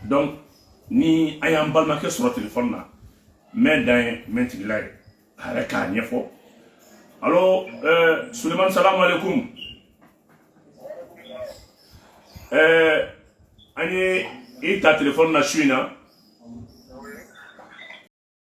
donc ni a y'an balimakɛ sɔrɔ telefɔni na mɛn dan ye mɛn tigi la ye a yɛrɛ k'a ɲɛfɔ alo eh, sulemani salamu aleykum eh, an ye i ta telefɔni na su in na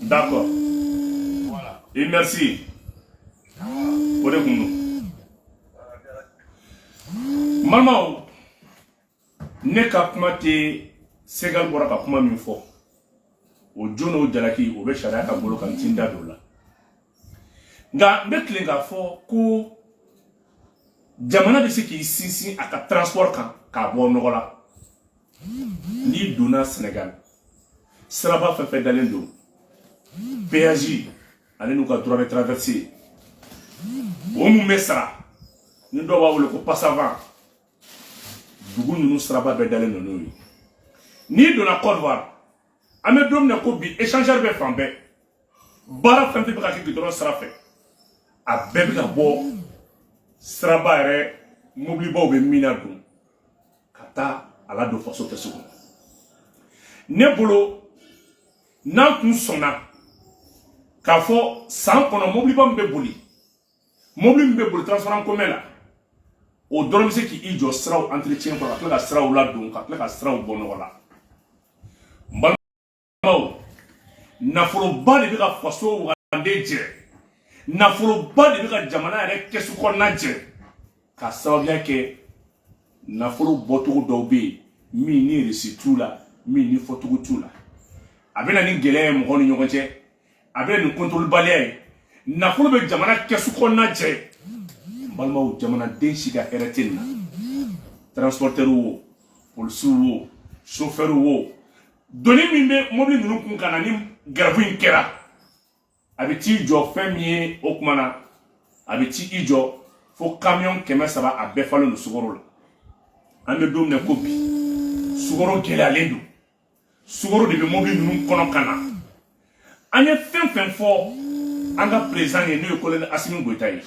D'accord. Voilà. Et merci. O de kun don. Balimaw, ne ka kuma tɛ Segal bɔra ka kuma min fɔ, o jo n'o jalaki, o bɛ sariya ka bolo kan n ti n da don o la. nka n bɛ tilen k'a fɔ ko jamana bɛ se k'i sinsin a ka transport kan k'a bɔ nɔgɔ la n'i donna Senegal siraba fɛn fɛn dalen don péage ale n'u ka droit de traversée o min bɛ sara ni dɔw b'a wele ko passavant dugu ninnu siraba bɛɛ dalen don n'o ye n'i donna Côte d'Ivoire an bɛ don min na ko bi échangeur bɛ fan bɛɛ baara fɛn fɛn bɛ ka kɛ gudɔrɔn sira fɛ a bɛɛ bɛ ka bɔ siraba yɛrɛ mobilibaw bɛ min nadon ka taa a ladon faso kɛsu kɔnɔ ne bolo n'an tun sɔnna k'a fɔ san kɔnɔ mobiliba min bɛ boli mobili min bɛ boli transport en commun la o dɔrɔn bɛ se k'i jɔ siraw entretien kɔrɔ ka tila ka siraw ladon ka tila ka siraw bɔ nɔgɔ la n balimaw nafoloba de bɛ ka faso wagande jɛ nafoloba de bɛ ka jamana yɛrɛ kɛsu kɔnɔna jɛ k'a sababuya kɛ nafolo bɔcogo dɔw bɛ yen minnu resi t'u la minnu fɔcogo t'u la a bɛ na ni gɛlɛya ye mɔgɔw ni ɲɔgɔn cɛ a bɛ na ni kɔntɔrɔlibaliya ye nafolo bɛ jamana kɛsu kɔnɔna jɛ n balimaw jamanaden si ka hɛrɛ tɛ nin na transportɛriw wo polisiw wo sofɛriw wo doni min bɛ mobili ninnu kun ka na ni grève in kɛra a bɛ t'i jɔ fɛn min ye o kuma na a bɛ t'i jɔ fo kamiyɔn kɛmɛ saba a bɛɛ falen don sukaro la an bɛ don min na ko bi sukaro gɛlɛyalen don sukaro de bɛ mobili ninnu kɔnɔ ka na an ye fɛn fɛn fɔ an ka peresidan ye n'o ye kolonɛli asimi goyita ye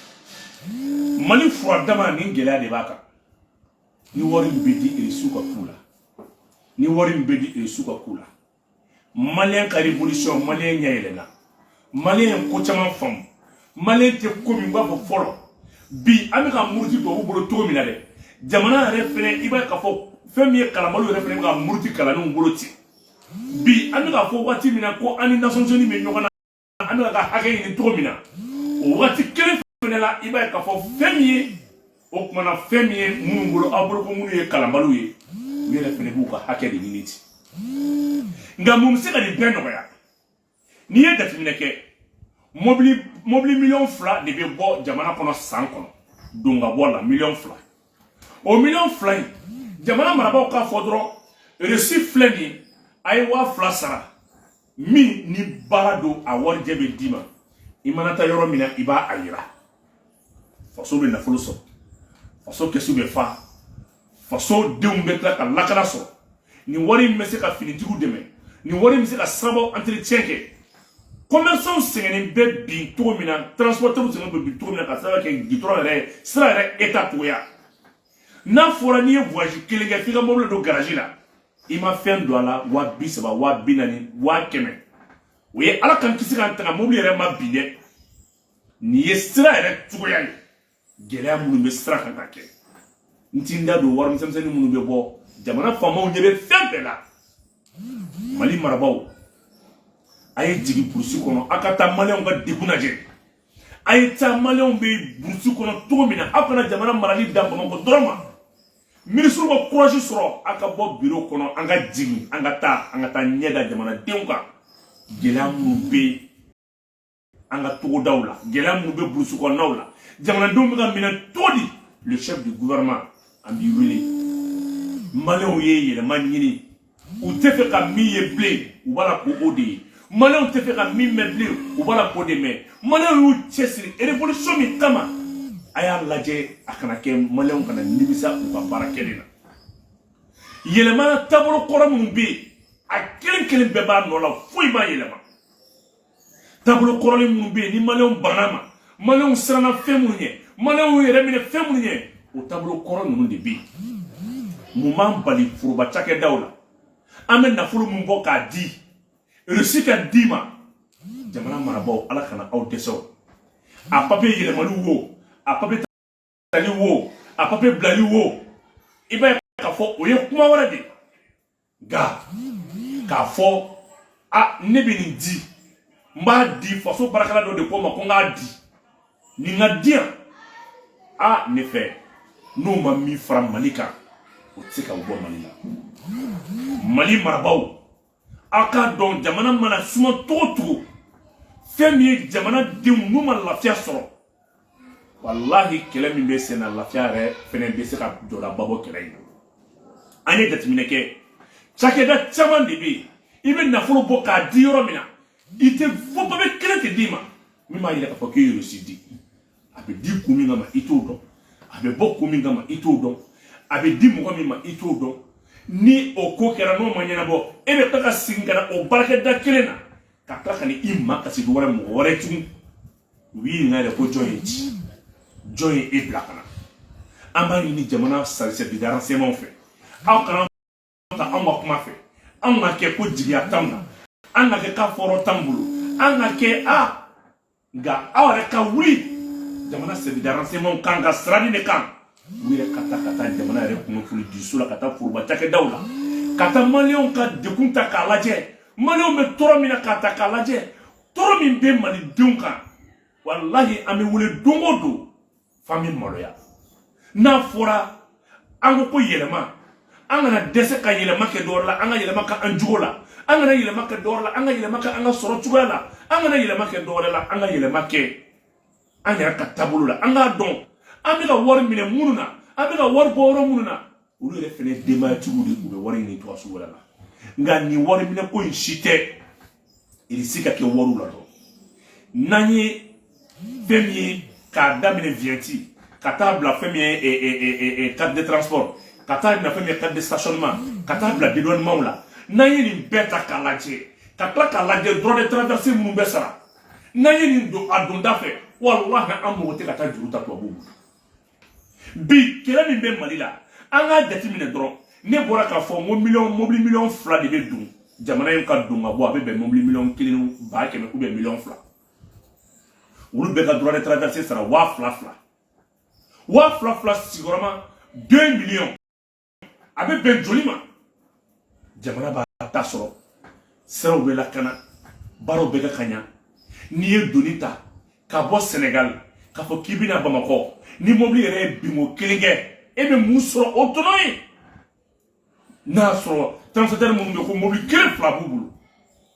mali fura dama ni gɛlɛya de b'a kan ni wari min bɛ di resiw ka k'u la ni wari min bɛ di resiw ka k'u la maliyɛn ka revolution maliyɛn ɲɛ yɛlɛnna maliyɛn ye ko caman faamu maliyɛn tɛ ko min b'a fɔ fɔlɔ bi an bɛ ka muruti tubabu bolo cogo min na dɛ jamana yɛrɛ fɛnɛ i b'a ye k'a fɔ fɛn min ye kalanbaliw yɛrɛ fɛnɛ bɛ ka muruti kalannenw bolo ten bi an bɛ k'a fɔ waati min na ko an ni nations unies bɛ ɲɔgɔn na an bɛ k'an ka hakɛ ɲini cogo min na o waati kelen fɛnɛ la i b'a ye k'a fɔ fɛn min ye o kumana fɛn min ye minnu bolo aw bolo ko minnu ye kalanbaliw ye u yɛrɛ fɛnɛ b'u ka hakɛ de ɲini ten nka mun bɛ se ka nin bɛɛ nɔgɔya n'i ye jateminɛ kɛ mobili miliyɔn fila de bɛ bɔ jamana kɔnɔ san kɔnɔ don ka bɔ la miliyɔn fila o miliyɔn fila in jamana marabaaw k'a fɔ dɔrɔn resi filɛ nin ye a ye waa fila sara min ni baara don a warijɛ bɛ d'i ma i mana taa yɔrɔ min na i b'a a yira faso bɛ nafolo sɔrɔ faso kɛsu bɛ fa faso denw bɛ tila ka lakana sɔrɔ nin wari in bɛ se ka finitigiw dɛmɛ nin wari in bɛ se ka sirabaw entretien kɛ commerçants sɛgɛnnen bɛ bi cogo min na transporteurs sɛgɛnnen bɛ bi cogo min na ka sababu kɛ gitɔrɔn yɛrɛ sira yɛrɛ état cogoya n'a fɔra n'i ye voyage kelen kɛ f'i ka mobili don garage la i ma fɛn don a la wa bi saba wa bi naani wa kɛmɛ o ye ala k'an kisi k'an tanga mobili yɛrɛ ma bin dɛ nin ye sira yɛrɛ cogoya ye gɛlɛya minnu bɛ sira kan ka kɛ n ti n da don wari misɛnmisɛnnin minnu bɛ bɔ jamana faamaw ɲɛ bɛ fɛn bɛɛ la mali marabaaw a ye jigin burusi kɔnɔ a ka taa maliyɛnw ka degun lajɛ a ye taa maliyɛnw bɛ burusi kɔnɔ cogo min na aw kana jamana marali dan bamakɔ dɔrɔn ma minisiriw ka kurasi sɔrɔ a ka bɔ biro kɔnɔ an ka jigin an ka taa an ka taa ɲɛ da jamanadenw kan gɛlɛya minnu bɛ yen an ka togodaw la gɛlɛya minnu bɛ burusi kɔnɔnaw la jamanadenw bɛ ka minɛ cogo di le chef du gouvernement an b'i wele maliyɛnw ye yɛlɛma ɲini u tɛ fɛ ka min ye bilen u b'a la ko o de ye maliyɛnw tɛ fɛ ka min mɛn bilen u b'a la k'o de mɛn maliyɛnw y'u cɛsiri révolution min kama a y'a lajɛ a kana kɛ maliyɛnw kana nimisa u ka baara kɛlen na yɛlɛma taabolo kɔrɔ minnu bɛ yen a kelen kelen bɛɛ b'a nɔ la foyi ma yɛlɛma taabolo kɔrɔlen minnu bɛ yen ni maliyɛnw banna ma maliyɛnw siranna fɛn minnu ɲɛ maliyɛnw yɛrɛ minɛ fɛn minnu ɲɛ o taabolo kɔrɔ ninnu de bɛ yen mun b'an bali foroba cakɛdaw la an bɛ nafolo min bɔ k'a di resi ka d'i ma jamana marabaaw ala kana aw dɛsɛ o a papiye yɛlɛmali wo a papiye tali wo a papiye bilali wo i b'a ye k'a fɔ o ye kuma wɛrɛ de nka k'a fɔ a ne bɛ nin di n b'a di faso baarakɛla dɔ de ko n ma ko n k'a di nin ka di yan a ne fɛ n'o ma min fara mali kan o tɛ se ka bɔ mali la mali marabaaw aw k'a dɔn jamana mana suma cogo o cogo fɛn min ye jamana denw n'u ma lafiya sɔrɔ walahi kɛlɛ min bɛ sen na lafiya yɛrɛ fɛnɛ bɛ se ka jɔdaba bɔ kɛlɛ in na an ye jateminɛ kɛ cakɛda caman de bɛ yen i bɛ nafolo bɔ k'a di yɔrɔ min na i tɛ fɔ papiye kelen tɛ d'i ma min b'a yira k'a fɔ k'i ye reçu di a bɛ di kun min kama i t'o dɔn a bɛ bɔ kun min kama i t'o dɔn a bɛ di mɔgɔ min ma i t'o dɔn ni o ko kɛra n'o ma ɲɛnabɔ e bɛ taga segin ka na o baarakɛda kelen na ka tila ka n'i makasi dɔ wɛrɛ mɔgɔ wɛrɛ tugun u b'i ɲininka yɛrɛ ko jɔn y'i ci jɔn ye e bila ka na an b'a ɲini jamana service de renseignement fɛ aw kana taa anw ka kuma fɛ anw ka kɛ ko jigiya t'anw na an ka kɛ k'a fɛɛrɛ t'an bolo an ka kɛ a nka aw yɛrɛ ka wuli jamana service de renseignement kan ka sirani de kan u yɛrɛ ka taa ka taa jamana yɛrɛ kunnafoni di so la ka taa foroba cakɛdaw la ka taa maliyɛnw ka degun ta k'a lajɛ maliyɛnw bɛ tɔɔrɔ min na k'a ta k'a lajɛ tɔɔrɔ min bɛ malidenw kan walahi an bɛ wele don o don f'an bɛ maloya n'a fɔra an ka ko yɛlɛma an kana dɛsɛ ka yɛlɛma kɛ dɔwɛrɛ la an ka yɛlɛma kɛ an jogo la an kana yɛlɛma kɛ dɔwɛrɛ la an ka yɛlɛma kɛ an ka sɔrɔ cogoya la an kana yɛlɛma kɛ dɔwɛrɛ la an ka yɛlɛma kɛ an yɛrɛ ka taabolo la an k'a dɔn an bɛ ka wari minɛ minnu na an bɛ ka wari bɔ yɔrɔ minnu na olu yɛrɛ fɛnɛ denbayatigiw de don u bɛ wari ɲini cogo sugu wɛrɛ la nka nin wari minɛ ko in si tɛ irisi ka kɛ wariw la dɔrɔn n'an ye fɛn min ye k'a daminɛ vignette ka taa bila fɛn min ye carte de transport ka taa bila fɛn min ye carte de stationnement ka taa bila dédouanement la n'an ye nin bɛɛ ta k'a lajɛ ka tila k'a lajɛ droit de traversée minnu bɛ sara n'an ye nin don a donda fɛ walahi an mago tɛ ka taa juru ta tubabuw bolo bi kɛlɛ min bɛ mali la an k'a jateminɛ dɔrɔn ne bɔra k'a fɔ n ko miliyɔn mobili miliyɔn fila de bɛ don jamana in ka don ka bɔ a bɛ bɛn mobili miliyɔn kelen ba kɛmɛ ou bien miliyɔn fila olu bɛɛ ka droit de traversée sara waa fila fila waa fila fila sigiyɔrɔma deux millions a bɛ bɛn joli ma jamana b'a ta sɔrɔ siraw bɛ lakana baaraw bɛ kɛ ka ɲa n'i ye doni ta ka bɔ sɛnɛgali k'a fɔ k'i bɛ na bamakɔ ni mobili yɛrɛ ye binko kelen kɛ e bɛ mun sɔrɔ o tɔnɔ ye n'a sɔrɔ transporteur minnu bɛ ko mobili kelen fila b'u bolo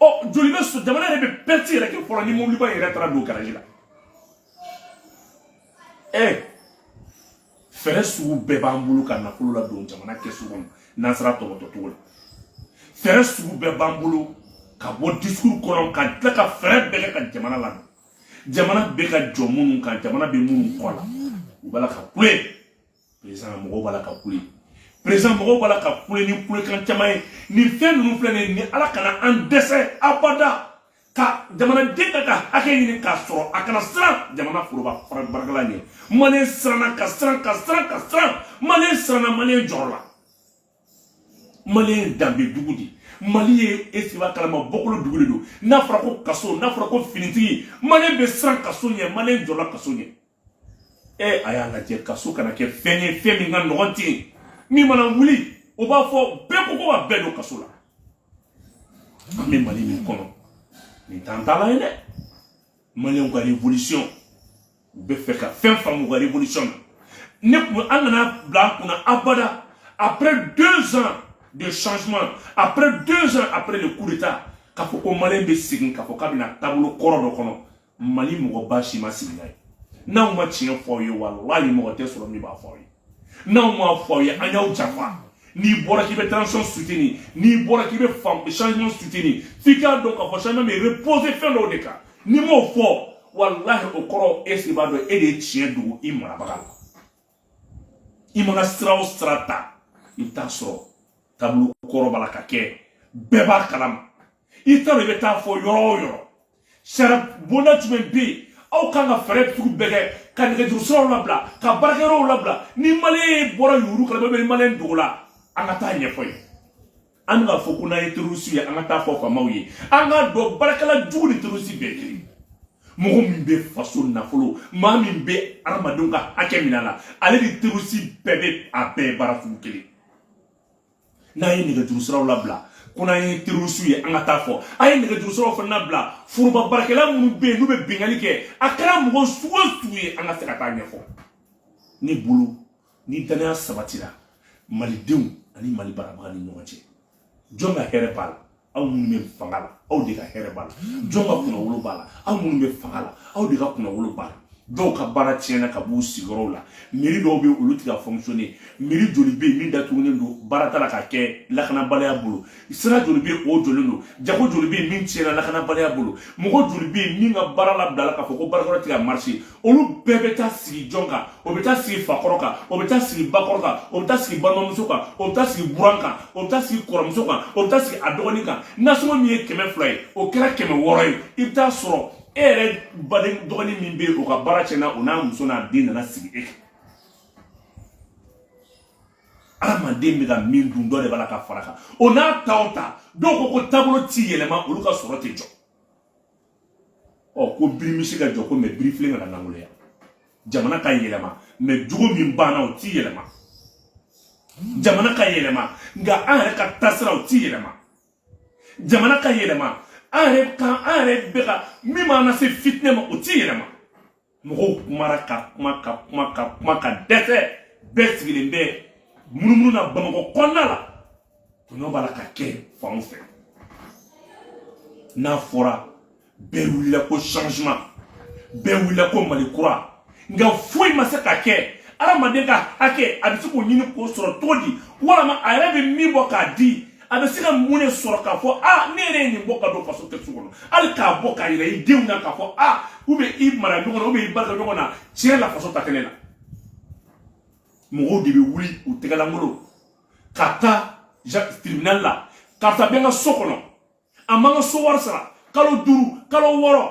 ɔ joli bɛ so jamana yɛrɛ bɛ perte yɛrɛ kɛ fɔlɔ ni mobiliba yɛrɛ taara don garaji la ɛ fɛɛrɛ sugu bɛɛ b'an bolo ka nafolo ladon jamana kɛsu kɔnɔ n'an sera tɔgɔtɔ cogo la fɛɛrɛ sugu bɛɛ b'an bolo ka bɔ discours kɔnɔ ka tila ka fɛɛrɛ bɛɛ kɛ ka jamana ladon jamana bɛ ka jɔ minnu kan jamana bɛ minnu kɔ la u b'a la ka kule président mɔgɔw b'a la ka kule président mɔgɔw b'a la ka kule ni kulekan caman ye nin fɛn ninnu filɛ nin ye ni ala kana an dɛsɛ abada ka jamanaden k'a ka hakɛ ɲini k'a sɔrɔ a kana siran jamana foroba baarakɛla ɲɛ maliyɛn siranna ka siran ka siran ka siran maliyɛn siranna maliyɛn jɔrɔla maliyɛn danbe dugu de mali ye est-ce i b'a kalama bɔkolo dugu de don n'a fɔra ko kaso n'a fɔra ko finitigi maliyɛn bɛ siran kaso ɲɛ maliyɛn jɔrɔla kaso ɲɛ ee a y'a lajɛ kaso kana kɛ fɛn ye fɛn min ka nɔgɔn ten min mana wuli o b'a fɔ bɛɛ ko ko ka bɛɛ don kaso la an bɛ mali min kɔnɔ nin t'an ta la ye dɛ maliyɛnw ka révolution u bɛ fɛ ka fɛn faamu u ka révolution na ne tun an kana bila an kunna abada après deux ans de changement après deux ans après le coup d'état k'a fɔ ko maliyɛn bɛ segin k'a fɔ k'a bɛna taabolo kɔrɔ dɔ kɔnɔ mali mɔgɔba si ma sigi n'a ye n'an ma tiɲɛ fɔ aw ye walahi mɔgɔ tɛ sɔrɔ min b'a fɔ aw ye n'an m'a fɔ aw ye an y'aw janfa n'i bɔra k'i bɛ transition soutenir n'i bɔra k'i bɛ changement soutenir f'i k'a dɔn k'a fɔ changement bɛ reposer fɛn dɔw de kan n'i m'o fɔ walahi o kɔrɔ est-ce i b'a dɔn e de ye tiɲɛ dogo i marabaga la i mana sira o sira ta i bɛ taa sɔrɔ taabolo kɔrɔ b'a la ka kɛ bɛɛ b'a kalama i t'a dɔn i bɛ taa fɔ yɔrɔ o yɔrɔ sariya bonda jumɛn bɛ yen aw kan ka fɛɛrɛ sugu bɛɛ kɛ ka nɛgɛjuru siraw labila ka baarakɛyɔrɔw labila ni maliyɛn bɔra yurugu kalama ni maliyɛn dogo la an ka taa ɲɛfɔ yen an bɛ k'a fɔ ko n'an ye terorisi ye an ka taa fɔ faamaw ye an k'a dɔn baarakɛla jugu ni terorisi bɛɛ kelen mɔgɔ min bɛ faso nafolo maa min bɛ adamadenw ka hakɛ minɛ a la ale ni terorisi bɛɛ bɛ a bɛɛ baara sugu kelen n'an ye nɛgɛjuru siraw labila ko n'an ye terorisiw ye an ka taa fɔ an ye nɛgɛjuru siraw fana labila foroba baarakɛla minnu bɛ yen n'u bɛ binkanni kɛ a kɛra mɔgɔ sugu o sugu ye an ka se ka taa ɲɛfɔ ni bolo ni danaya sabatira malidenw ani mali marabaga ni ɲɔgɔn cɛ jɔn ka hɛrɛ b'a la aw minnu bɛ fanga la aw de ka hɛrɛ b'a la jɔn ka kunnawolo b'a la aw minnu bɛ fanga la aw de ka kunnawolo b'a la dɔw ka baara tiɲɛna ka b'u sigiyɔrɔw la mairie dɔw bɛ olu tɛ ka fonctionner mairie joli bɛ yen min datugulen don baara t'a la ka kɛ lakanabaliya bolo sira joli bɛ o jɔlen don jago joli bɛ yen min tiɲɛna lakanabaliya bolo mɔgɔ joli bɛ yen min ka baara labilala k'a fɔ ko baarakɛyɔrɔ tɛ ka marcher olu bɛɛ bɛ taa sigi jɔn kan o bɛ taa sigi fakɔrɔ kan o bɛ taa sigi bakɔrɔ kan o bɛ taa sigi balimamuso kan o bɛ taa sigi buran kan o bɛ taa sigi kɔrɔmuso kan o bɛ taa sigi a dɔgɔnin kan nasɔngɔ min ye kɛmɛ fila ye o kɛra kɛmɛ wɔɔrɔ ye i bɛ taa sɔrɔ e yɛrɛ baden dɔgɔnin min bɛ yen o ka baara tiɲɛna o n'a muso n'a den nana sigi e kan adamaden bɛ ka min dun dɔ de b'a la ka fara a kan o n'a ta o ta dɔw ko ko taabolo ti yɛlɛma olu ka sɔrɔ tɛ jɔ ɔ ko birimisi ka jɔ ko mɛ birifilen kana nangoloya jamana ka yɛlɛma mɛ jogo min b'an na o ti yɛlɛma jamana ka yɛlɛma nka an yɛrɛ ka taasira o ti yɛlɛma jamana ka yɛlɛma an yɛrɛ kan an yɛrɛ bɛ ka min b'an lase fitinɛ ma o ti yɛlɛma mɔgɔw kumara ka kuma ka kuma ka kuma ka dɛsɛ bɛɛ sigilen bɛ munumunu na bamakɔ kɔnɔna la tɔɲɔ b'a la ka kɛ fanw fɛ n'a fɔra bɛɛ wulila ko changement bɛɛ wulila ko mali kura nka foyi ma se ka kɛ adamaden ka hakɛ a bɛ se k'o ɲini k'o sɔrɔ cogo di walama a yɛrɛ bɛ min bɔ k'a di a bɛ se ka mun de sɔrɔ k'a fɔ a ne yɛrɛ ye nin bɔ ka don faso kɛsu kɔnɔ hali k'a bɔ k'a yira i denw na k'a fɔ a ou bien i maraɲɔgɔn na ou bien i baarakɛɲɔgɔn na tiɲɛ la faso ta kɛnɛ na mɔgɔw de bɛ wuli u tɛgɛlankolon ka taa tribunal la karisa bɛ n ka so kɔnɔ a ma n ka so wari sara kalo duuru kalo wɔɔrɔ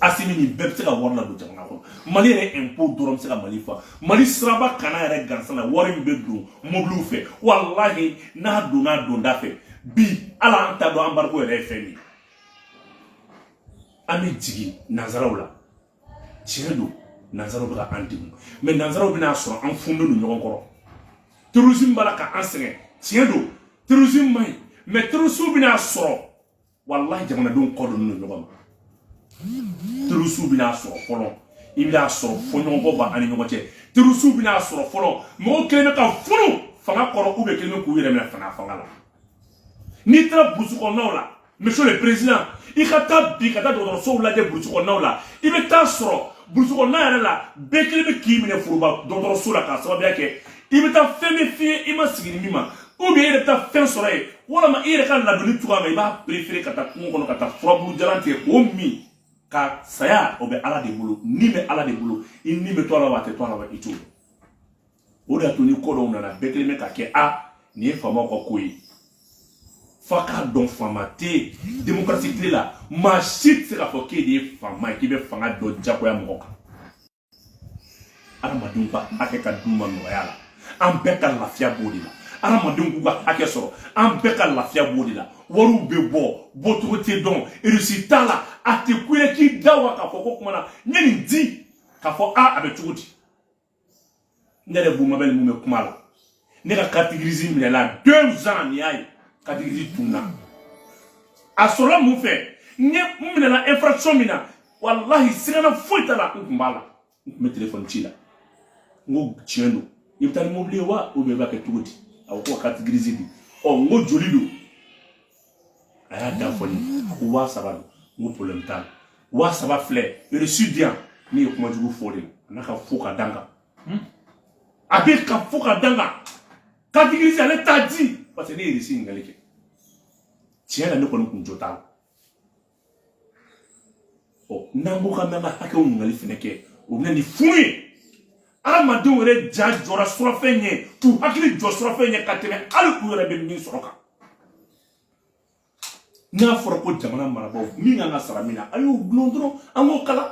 asimi nin bɛɛ bɛ se ka wari ladon jamana kɔnɔ mali yɛrɛ impôt dɔrɔn bɛ se ka mali fa mali siraba kanna yɛrɛ gansan na wari min bɛ don mobiliw fɛ walahi n'a donna a donda fɛ bi ala an t'a dɔn embargo yɛrɛ ye fɛn min ye an bɛ jigin nanzaraw la tiɲɛ don nanzaraw bɛ ka an degun mɛ nanzaraw bɛna sɔrɔ an fununen don ɲɔgɔn kɔrɔ terrorisme b'a la ka an sɛgɛn tiɲɛ don terrorisme man ɲi mɛ terrorisme bɛna sɔrɔ walahi jamanadenw kɔ don ɲɔgɔn ma terorisiw bɛna sɔrɔ fɔlɔ i bɛna sɔrɔ fɔɲɔgɔnkɔ b'an ni ɲɔgɔn cɛ terorisiw bɛna sɔrɔ fɔlɔ mɔgɔw kɛlen bɛ ka funu fanga kɔrɔ u bɛɛ kɛlen bɛ k'u yɛrɛ minɛ fanga fanga la n'i taara burusi kɔnɔnaw la monsieur le président i ka taa bi ka taa dɔgɔtɔrɔsow lajɛ burusi kɔnɔnaw la i bɛ taa sɔrɔ burusi kɔnɔna yɛrɛ la bɛɛ kɛlen bɛ k'i minɛ foroba dɔgɔtɔrɔso la k'a sababuya kɛ i bɛ taa fɛn min f'i ye i ma sigi ni min ma ou bien e yɛrɛ bɛ taa fɛn sɔrɔ yen walama e yɛrɛ ka ladonni cogoya ma i b'a préférer ka taa kungo kɔnɔ ka taa furabulu jalan tigɛ k'o min ka saya o bɛ ala de bolo ni bɛ ala de bolo i ni bɛ to a la wa a tɛ to a la wa i t'o dɔn o de y'a to ni ko dɔw nana bɛɛ kɛlen bɛ ka kɛ a nin ye faamaw ka ko ye f'a k'a dɔn faama tɛ yen demokarasi tile la maa si tɛ se k'a fɔ k'e de ye faama ye k'i bɛ fanga dɔ jagoya mɔgɔ kan adamadenw ka hakɛ ka d'u ma nɔgɔya la an bɛɛ ka lafiya b'o de la adamadenw k'u ka hakɛ sɔrɔ an bɛɛ ka lafiya b'o de la wariw bɛ bɔ bɔcogo tɛ dɔn reçu t'a la a tɛ kun i ye k'i da wa k'a fɔ ko kumandan n ye nin di k'a fɔ a a bɛ cogo di ne yɛrɛ Bumabɛli mun bɛ kuma la ne ka carte grise minɛla deux ans nin y'a ye carte grise tunna a sɔrɔla mun fɛ ne n minɛla infraction min na walahi sigana foyi t'a la n tun b'a la n tun bɛ telefɔni ci la n ko tiɲɛ don i bɛ taa ni mobili ye wa ou bien i b'a kɛ cogo di a ko ko ka carte grise di ɔ n ko joli don a y'a da fɔ n ye a ko waa saba don n ko problème t'a la waa saba filɛ reçu di yan ne ye kuma jugu fɔ de a n'a ka fo ka da n kan a bɛ ka fo ka da n kan carte grise ale t'a di parce que ne ye reçu ɲininkali kɛ tiɲɛ la ne kɔni kun jo t'a la ɔ n'an ko k'an bɛ an ka hakɛw ɲininkali fana kɛ o bɛ na ni funu ye adamadenw yɛrɛ ja jɔra surafɛn ɲɛ k'u hakili jɔ surafɛn ɲɛ ka tɛmɛ hali u yɛrɛ bɛ min sɔrɔ kan n'a fɔra ko jamana marabaaw min kan ka sara min na a y'o gulon dɔrɔn an k'o kalan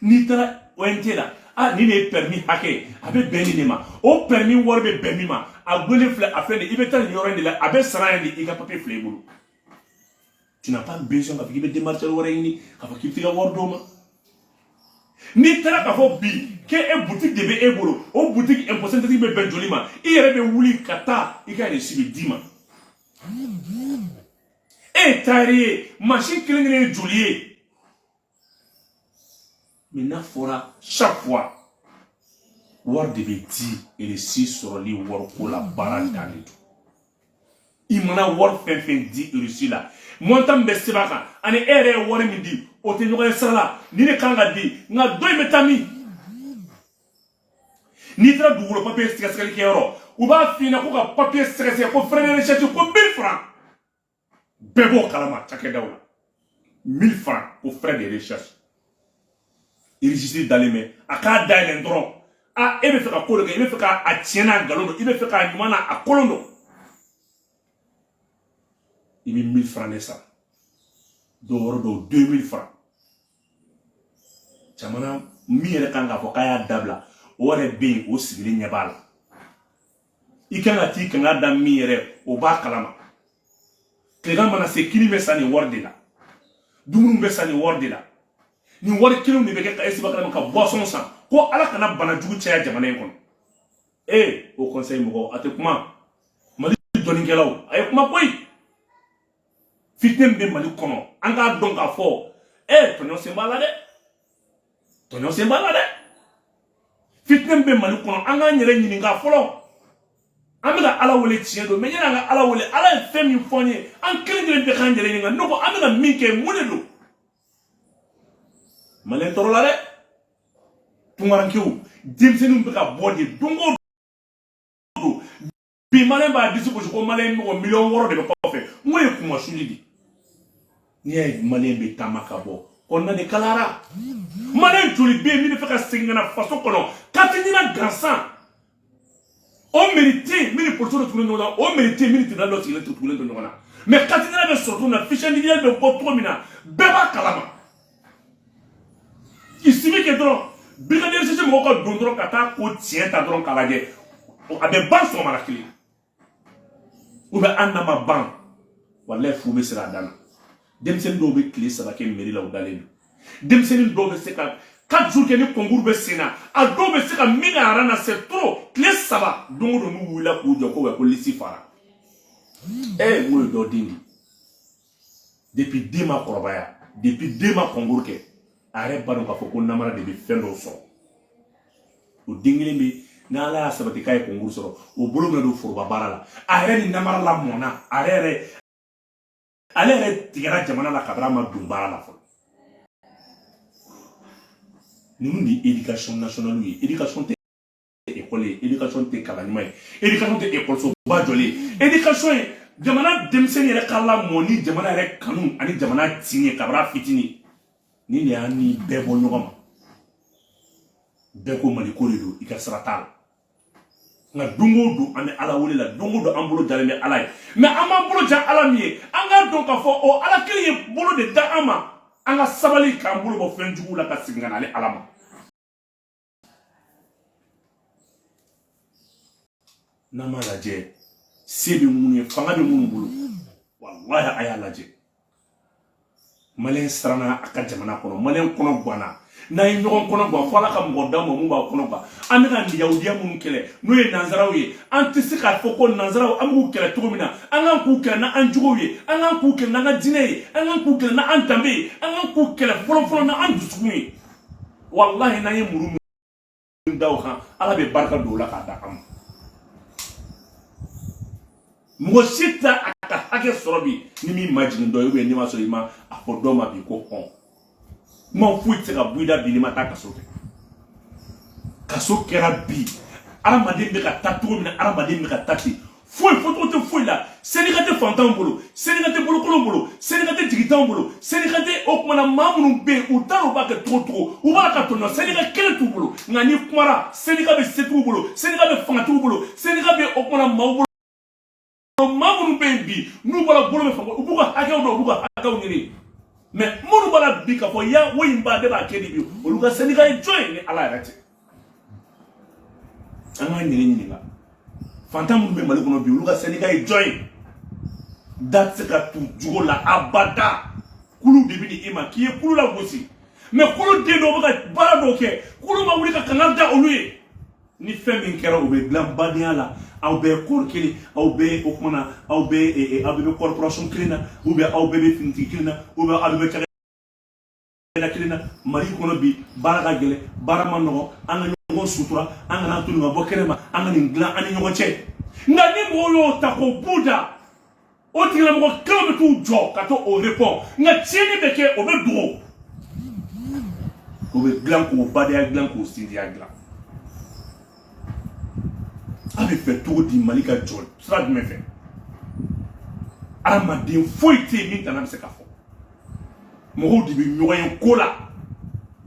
n'i taara ONT la a nin de ye pɛrimi hakɛ ye a bɛ bɛn nin de ma o pɛrimi wari bɛ bɛn min ma a gulonnen filɛ a filɛ nin i bɛ taa nin yɔrɔ in de la a bɛ sara yen de i ka papiye filɛ i bolo tu n'as pas besoin k'a fɔ k'i bɛ démarcheur wɛrɛ ɲini k'a fɔ k'i bɛ t'i ka wari d'o ma n'i taara k'a fɔ bi k'e e boutique de bɛ e bolo o boutique impôt synthétique bɛ bɛn joli ma i yɛrɛ bɛ wuli ka taa i ka reçu bɛ d'i ma e ye tailleur ye mansin kelen kelen ye joli ye. mais n'a fɔra chaque fois wari de bɛ di reçu sɔrɔli wariko la baara dan de don i mana wari fɛn fɛn di reçu la montant min bɛ sɛbɛn a kan ani e yɛrɛ ye wari min di o tɛ ɲɔgɔn ye sira la nin de kan ka di nka dɔ in bɛ taa min n'i taara dugukolo papiye sɛgɛsɛgɛli kɛyɔrɔ u b'a f'i ɲɛna ko ka papiye sɛgɛsɛgɛ ko frais de recherche ko mille francs bɛɛ b'o kalama cakɛdaw la mille franc ko frais de recherche registre dalen bɛ a k'a dayɛlɛn dɔrɔn a e bɛ fɛ ka ko dɔ kɛ i bɛ fɛ k'a tiɲɛ n'a nkalon dɔn i bɛ fɛ k'a ɲuman n'a kolon dɔn i bɛ mille franc de sara dɔw yɔrɔ dɔw deux mille franc ɲɛmaa min yɛrɛ kan k'a fɔ k'a y'a dabila o yɛrɛ bɛ yen o sigilen ɲɛ b'a la i kan ka t'i kanga da min yɛrɛ o b'a kalama tilegan mana se kini bɛ san nin wari de la dumuni bɛ san nin wari de la nin wari kelenw de bɛ kɛ ka esiba kalama ka boisson san ko ala kana bana jugu caya jamana in kɔnɔ ee Haut Conseil mɔgɔw a tɛ kuma mali dɔnnikɛlaw a ye kuma koyi fitinɛ bɛ mali kɔnɔ an k'a dɔn k'a fɔ ee tɔɲɔ sen b'a la dɛ tɔɲɔ sen b'a la dɛ fitinɛ min bɛ mali kɔnɔ an k'an yɛrɛ ɲininka fɔlɔ an bɛ ka ala wele tiɲɛ don mɛ yanni an ka ala wele ala ye fɛn min fɔ an ye an kelen kelen bɛɛ k'an yɛrɛ ɲininka ne ko an bɛna min kɛ mun de don maliyɛn tɔɔrɔla dɛ tunkarankew denmisɛnninw bɛ ka bɔ de don o don bi maliyɛn b'a disi gosi ko maliyɛn mɔgɔ miliyɔn wɔɔrɔ de bɛ kɔfɛ n ko ye kuma suli de n'i y'a ye maliyɛn bɛ taama ka bɔ kɔnɔna de kalayara maliyɛn joli bɛ yen min b'a fɛ ka segin ka na faso kɔnɔ katinina gansan o meri tɛ yen min ni polisiw de tugulen ɲɔgɔn na o meri tɛ yen min ni tribunal dɔ sigilen tugulen don ɲɔgɔn na mɛ katinina bɛ sɔrɔ cogo min na fiche individuelle bɛ bɔ cogo min na bɛɛ b'a kalama il suffit que dɔrɔn brigadier sisi mɔgɔw ka don dɔrɔn ka taa ko tiɲɛ ta dɔrɔn k'a lajɛ a bɛ ban sɔgɔmada kelen ou bien n'a ma ban walayi fu bɛ siri a dan na denmisɛnnin dɔw bɛ tile saba kɛ meri la u dalen don denmisɛnnin dɔw bɛ se ka quatre jours kɛ ni concours bɛ sen na a dɔw bɛ se ka min ka aran na c'est trop tile saba don o don n'u wulila k'u jɔ ko wɛ ko lisi fara ee n ko ye dɔ den de ye depuis den ma kɔrɔbaya depuis den ma kɔnkuru kɛ a yɛrɛ b'a dɔn k'a fɔ ko namara de bɛ fɛn dɔw sɔrɔ o den kelen bɛ n'ala y'a sabati k'a ye kɔnkuru sɔrɔ o bolo bɛna don foroba baara la a yɛrɛ ni namara lamɔna a yɛrɛ yɛrɛ ale yɛrɛ tigɛra jamana la kabini a ma don baara la fɔlɔ ninnu de ye éducation nationale ye éducation tɛ ekɔli ye edikasɔn tɛ kalan ɲuman ye edikasɔn tɛ ekɔlisoba jɔlen ye edikasɔn ye jamana denmisɛnnin yɛrɛ ka lamɔ ni jamana yɛrɛ kanu ani jamana tin ye kabini a fitinin nin de y'an ni bɛɛ bɔ ɲɔgɔn ma bɛɛ ko mali ko de don i ka sira t'a la nka don o don an bɛ ala wele la don o don an bolo jalen bɛ ala ye mɛ an b'an bolo ja ala min ye an k'a dɔn k'a fɔ o ala kelen ye bolo de da an ma an ka sabali k'an bolo bɔ fɛn juguw la ka segin ka na ale ala ma n'an m'a lajɛ se bɛ minnu ye fanga bɛ minnu bolo walahi a y'a lajɛ maliyɛn siranna a ka jamana kɔnɔ maliyɛn kɔnɔ ganna n'an ye ɲɔgɔn kɔnɔ gan fo ala ka mɔgɔ d'an ma min b'an kɔnɔ gan an bɛ ka yahudiya minnu kɛlɛ n'o ye nanzaraw ye an tɛ se k'a fɔ ko nanzaraw an b'u kɛlɛ cogo min na an kan k'u kɛlɛ n'an jogow ye an kan k'u kɛlɛ n'an ka diinɛ ye an kan k'u kɛlɛ n'an danbe ye an kan k'u kɛlɛ fɔlɔfɔlɔ n'an dusukun ye walahi n'an ye muru min da u kan ala bɛ barika don o la k'a da an ma mɔgɔ si tɛ a ka hakɛ sɔrɔ bi n'i m'i majigin dɔ ye ubiyɛn n'i ma sɔrɔ i ma a fɔ dɔ ma bi ko hɔn kuma foyi tɛ se ka bɔ i da bi n'i ma taa kaso kɛ kaso kɛra bi adamaden bɛ ka taa cogo min na adamaden bɛ ka taa ten foyi fɔcogo tɛ foyi la syndicat tɛ fantanw bolo syndicat tɛ bolokolonw bolo syndicat tɛ jigitanw bolo syndicat tɛ o kumana maa minnu bɛ yen u t'a dɔn u b'a kɛ cogo cogo u bɛ ka tɔɲɔ syndicat kelen t'u bolo nka n'i kumara syndicat bɛ setigiw bolo syndicat bɛ fangatigiw bolo syndicat bɛ o kumana maaw bolo maa minnu bɛ yen bi n'u bɔra bolo bɛ fanga u b'u ka hakɛw dɔn u b'u ka hakɛw ɲini mais minnu b'a la bi k'a fɔ ya woyi n ba ne b'a kɛ di bi olu ka syndicat ye jɔn ye ni ala yɛrɛ tɛ an k'an yɛrɛ ɲininka fantan minnu bɛ mali kɔnɔ bi olu ka syndicat ye jɔn ye da tɛ se ka tu jugu la abada kulu de bɛ di e ma k'i ye kulu lagosi mais kuluden dɔw bɛ ka baara dɔw kɛ kulu ma wuli ka kangari da olu ye ni fɛn min kɛra o bɛ dilan badenya la aw bɛɛ corps kelen aw bɛɛ o kumana aw bɛɛ aw bɛɛ bɛ corporation kelen na ou bien aw bɛɛ bɛ finitigi kelen na ou bien aw bɛɛ bɛ da kelen na mali kɔnɔ bi baara ka gɛlɛn baara ma nɔgɔ an ka ɲɔgɔn sutura an kana to nin ka bɔ kɛnɛ ma an ka nin dilan an ni ɲɔgɔn cɛ nka ni mɔgɔw y'o ta k'o b'u da o tigilamɔgɔ kelen bɛ t'u jɔ ka to o répond nka tiɲɛni bɛ kɛ o bɛ dogo o bɛ dilan ko badenya dilan ko sinjiya dilan aw b'a fɛ cogo di mali ka jɔ sira jumɛn fɛ adamaden foyi tɛ yen min tana bɛ se ka fɔ mɔgɔw de bɛ ɲɔgɔn ye ko la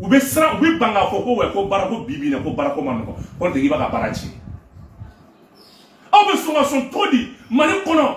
u bɛ siran u bɛ ban k'a fɔ ko wɛ ko baarako bi bi in na ko baarako ma nɔgɔ k'o tigi b'a ka baara tiɲɛ aw bɛ sɔn ka sɔn cogo di mali kɔnɔ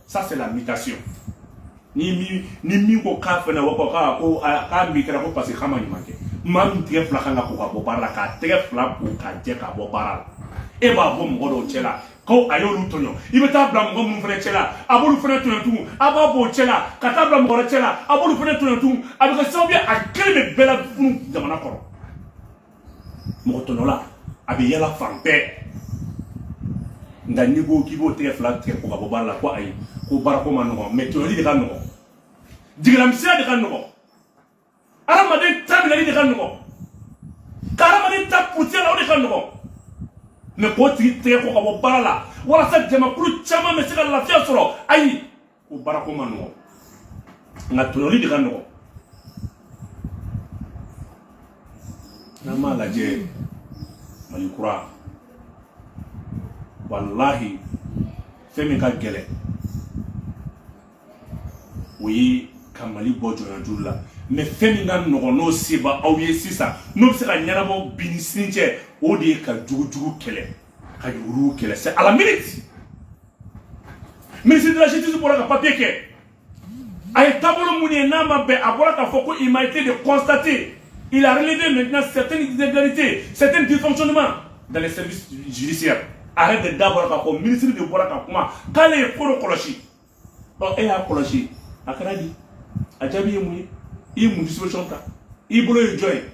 ça c'est la mutation ni mi ni mi ko ka fana wa ko ka ko ka mi kra ko parce que kama ni manke mam tɛgɛ fila kan ka ko ka bɔ baara la k'a tɛgɛ fila ko ka jɛ ka bɔ baara la e b'a bɔ mɔgɔ dɔw cɛ la ko a y'olu tɔɲɔ i bɛ taa a bila mɔgɔ minnu fana cɛ la a b'olu fana tɔɲɔ tugun a b'a bɔ o cɛ la ka taa a bila mɔgɔ wɛrɛ cɛ la a b'olu fana tɔɲɔ tugun a bɛ kɛ sababu ye a kelen bɛ bɛɛ lafunu jamana kɔrɔ mɔgɔ tɔɲɔla a bɛ yala fan bɛɛ nka n'i ko k'i b'o tɛgɛ fila tɛgɛ ko ka bɔ baara la ko ayi ko baarako ma nɔgɔn mais tɔɲɔli de ka nɔgɔn jigilamisɛnya de ka nɔgɔn adamaden ta minɛli de ka nɔgɔn ka adamaden ta puruti a la o de ka nɔgɔn mais k'o tigi tɛgɛ ko ka bɔ baara la walasa jamakulu caman bɛ se ka lafiya sɔrɔ ayi ko baarako ma nɔgɔ nka tɔɲɔli de ka nɔgɔ n'an m'a lajɛ mali kura walahi fɛn min ka gɛlɛ o ye ka mali bɔ jɔnyajuru la mais fɛn min ka nɔgɔn n'o se b'aw ye sisan n'o bɛ se ka ɲɛnabɔ bi ni sini cɛ o de ye ka jugujugu kɛlɛ ka yuruguyurugu kɛlɛ c'est à la minute ministre de la justice bɔra ka papier kɛ a ye taabolo mun ye n'a ma bɛn a bɔra k'a fɔ ko il m'a été de constater il a relevé maintenant certaines irrégularités certains dysfonctionnements dans les services judiciaires arrête de da bɔra k'a fɔ ministre de bɔra ka kuma k'ale ye ko dɔ kɔlɔsi bon e y'a kɔlɔsi a kɛra di a jaabi ye mun ye i ye mun disposition ta i bolo ye jɔn ye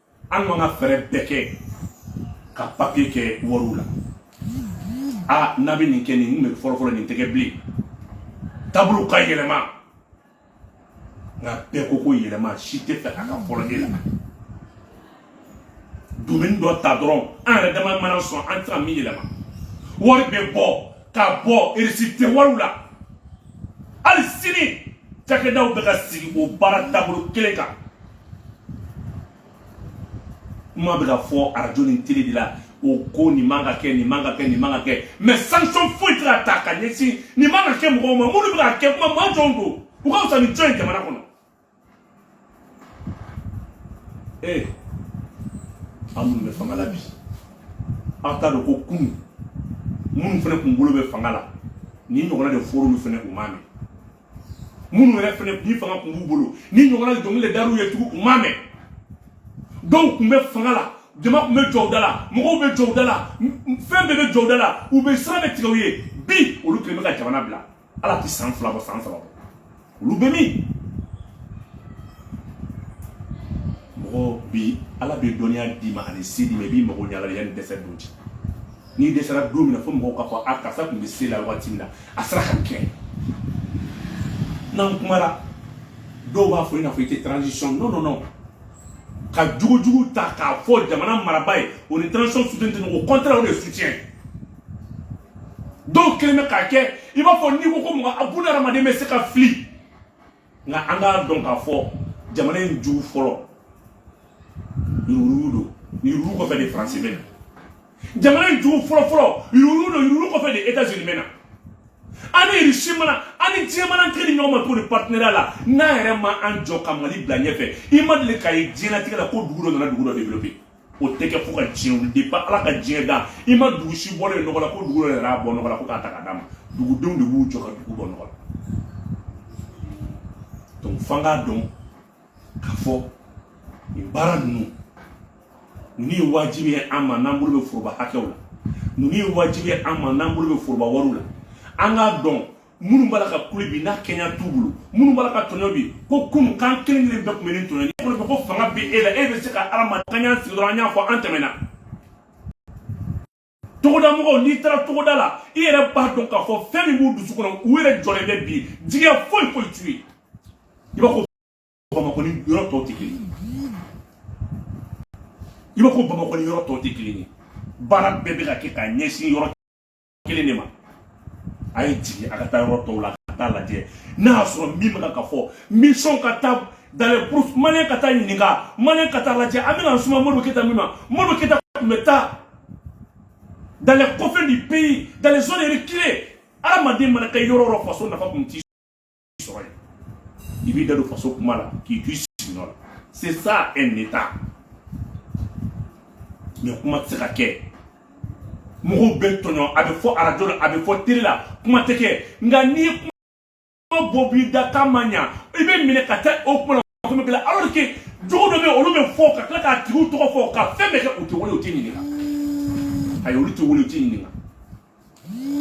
an ka fɛɛrɛ bɛɛ kɛ ka papiye kɛ wariw la a n'a bɛ nin kɛ nin kun bɛ fɔlɔfɔlɔ nin tɛ kɛ bilen taabolo ka yɛlɛma nka bɛɛ ko ko yɛlɛma si t'a fɛ a ka fɔlɔ de la domaine dɔ ta dɔrɔn an yɛrɛ dama mana sɔn an tɛ ka min yɛlɛma wari bɛ bɔ ka bɔ reçu tɛ wariw la hali sini cakɛdaw bɛ ka sigi o baara taabolo kelen kan kuma bɛ ka fɔ arajo ni tele de la o ko nin man ka kɛ nin man ka kɛ nin man ka kɛ mais sanction foyi tɛ ka ta ka ɲɛsin nin man ka kɛ mɔgɔw ma minnu bɛ k'a kɛ kuma maa jɔnw don u ka fisa ni jɔn ye jamana kɔnɔ ee aw minnu bɛ fanga la bi aw t'a dɔn ko kunu minnu fana kun bolo bɛ fanga la nin ɲɔgɔnna de fɔr'olu fana u m'a mɛn minnu yɛrɛ fana ni fanga tun b'u bolo nin ɲɔgɔnna dɔnkili de dar'u ye tugun u m'a mɛn dɔw tun bɛ fanga la jama tun bɛ jɔ u da la mɔgɔw bɛ jɔ u da la fɛn bɛɛ bɛ jɔ u da la u bɛ sira bɛɛ tigɛ u ye bi olu kɛlen bɛ ka jamana bila ala tɛ san fila bɔ san saba bɔ olu bɛ min mɔgɔ bi ala bɛ dɔnniya d'i ma ani se d'i ma i b'i mago ɲɛ ala la yanni dɛsɛ don cɛ n'i dɛsɛra don min na fo mɔgɔw k'a fɔ a karisa tun bɛ se la waati min na a sera k'a kɛ n'an kumara dɔw b'a fɔ i n'a fɔ i tɛ transition non non non ka jugujugu ta k'a fɔ jamana maraba ye o ni transition soutien tɛ ɲɔgɔn au contraire o de ye soutien dɔw kɛlen bɛ k'a kɛ i b'a fɔ n'i ko ko mɔgɔ a buna hadamaden bɛ se ka fili nka an k'a dɔn k'a fɔ jamana in jugu fɔlɔ yurugu don yurugu kɔfɛ de faransi bɛ na jamana in jugu fɔlɔ fɔlɔ yurugu don yurugu kɔfɛ de etazini bɛ na an ni irisi mana an ni diɲɛ mana kɛ ni ɲɔgɔn ma cogo di partenariat la n'an yɛrɛ ma an jɔ ka mali bila ɲɛfɛ i ma deli k'a ye diɲɛlatigɛ la ko dugu dɔ nana dugu dɔ développer o tɛ kɛ fo ka diɲɛ wuli depuis ala ka diɲɛ da i ma dugu si bɔlen ye nɔgɔ la ko dugu dɔ wɛrɛ y'a bɔ nɔgɔ la ko k'a ta ka d'a ma dugudenw de b'u jɔ ka dugu bɔ nɔgɔ la donc f'an k'a dɔn k'a fɔ nin baara ninnu ninnu ye wajibi ye an ma n'an bolo bɛ foroba hakɛw la ninnu ye wajibi ye an ma n'an bolo bɛ foroba wariw la an k'a dɔn minnu b'a la ka kule bi n'a kɛnɛya t'u bolo minnu b'a la ka tɔɲɔ bi ko kunu kan kelen kelen bɛɛ tun bɛ ni tɔɲɔ ye kɔnɔ ko fanga bɛ e la e bɛ se ka adamaden k'an y'an sigi dɔrɔn an y'a fɔ an tɛmɛna togoda mɔgɔw n'i taara togoda la i yɛrɛ b'a dɔn k'a fɔ fɛn min b'u dusu kɔnɔ u yɛrɛ jɔlen bɛ bi jigiya foyi foyi t'u ye i b'a fɔ bamakɔ ni yɔrɔ tɔw tɛ kelen ye i b'a fɔ bamakɔ ni yɔrɔ tɔw tɛ kelen ye baara bɛɛ bɛ ka kɛ ka ɲɛsin yɔrɔ kelen de ma a ye jigin a ka taa yɔrɔ tɔw la ka taa lajɛ n'a y'a sɔrɔ min bɛ ka fɔ mission ka taa dans les brousses maliyɛn ka taa ɲininka maliyɛn ka taa lajɛ an bɛna suma modibo keyita min ma modibo keyita tun bɛ taa dans les confins du pays dans les zones reculées hadamaden mana kɛ yɔrɔ yɔrɔ faso nafa tun t'i sɔrɔ yen i b'i da don faso kuma la k'i to i sigiyɔrɔ la c'est ça un état mais kuma tɛ se ka kɛ mɔgɔw bɛ tɔɲɔ a bɛ fɔ arajo la a bɛ fɔ tele la kuma tɛ kɛ nka n'i ye kuma bɔ b'i da k'a ma ɲa i bɛ minɛ ka taa o kuma la ko bɛ bila alors que jogo dɔ bɛ olu bɛ fɔ ka tila k'a tigiw tɔgɔ fɔ ka fɛn bɛɛ kɛ u tɛ wele u tɛ ɲininka ayi olu tɛ wele u tɛ ɲininka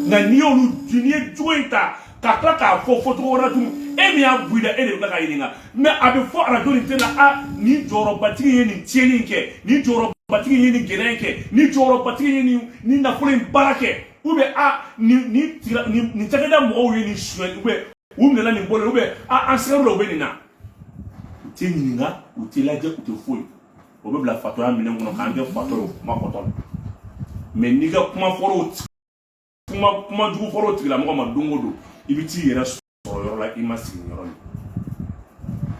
nka n'i y'olu n'i ye jogo in ta ka tila k'a fɔ fɔ cogo wɛrɛ la tun e min y'a bɔ i da e de bɛ ka ɲininka mais a bɛ fɔ arajo ni tele la a nin jɔyɔrɔbatigi ye nin tiɲɛni kɛ nin jɔyɔrɔbatigi ye nin gɛlɛya kɛ nin jɔyɔrɔbatigi ye nin nin nafolo in baara kɛ ou bien a nin nin nin cakɛda mɔgɔw ye nin suɲɛ ou bien u minɛla nin bolo ou bien an sigalen don u bɛ nin na u tɛ ɲininka u tɛ lajɛ u tɛ foyi o bɛ bila fatɔya minɛn kɔnɔ k'an kɛ fatɔ ye o kuma fɔtɔ la mais n'i ka kuma fɔr'o kuma kuma jugu fɔr'o tigilamɔgɔ ma don o don i bɛ t'i yɛrɛ sɔrɔ yɔrɔ la i ma sigi yɔrɔ min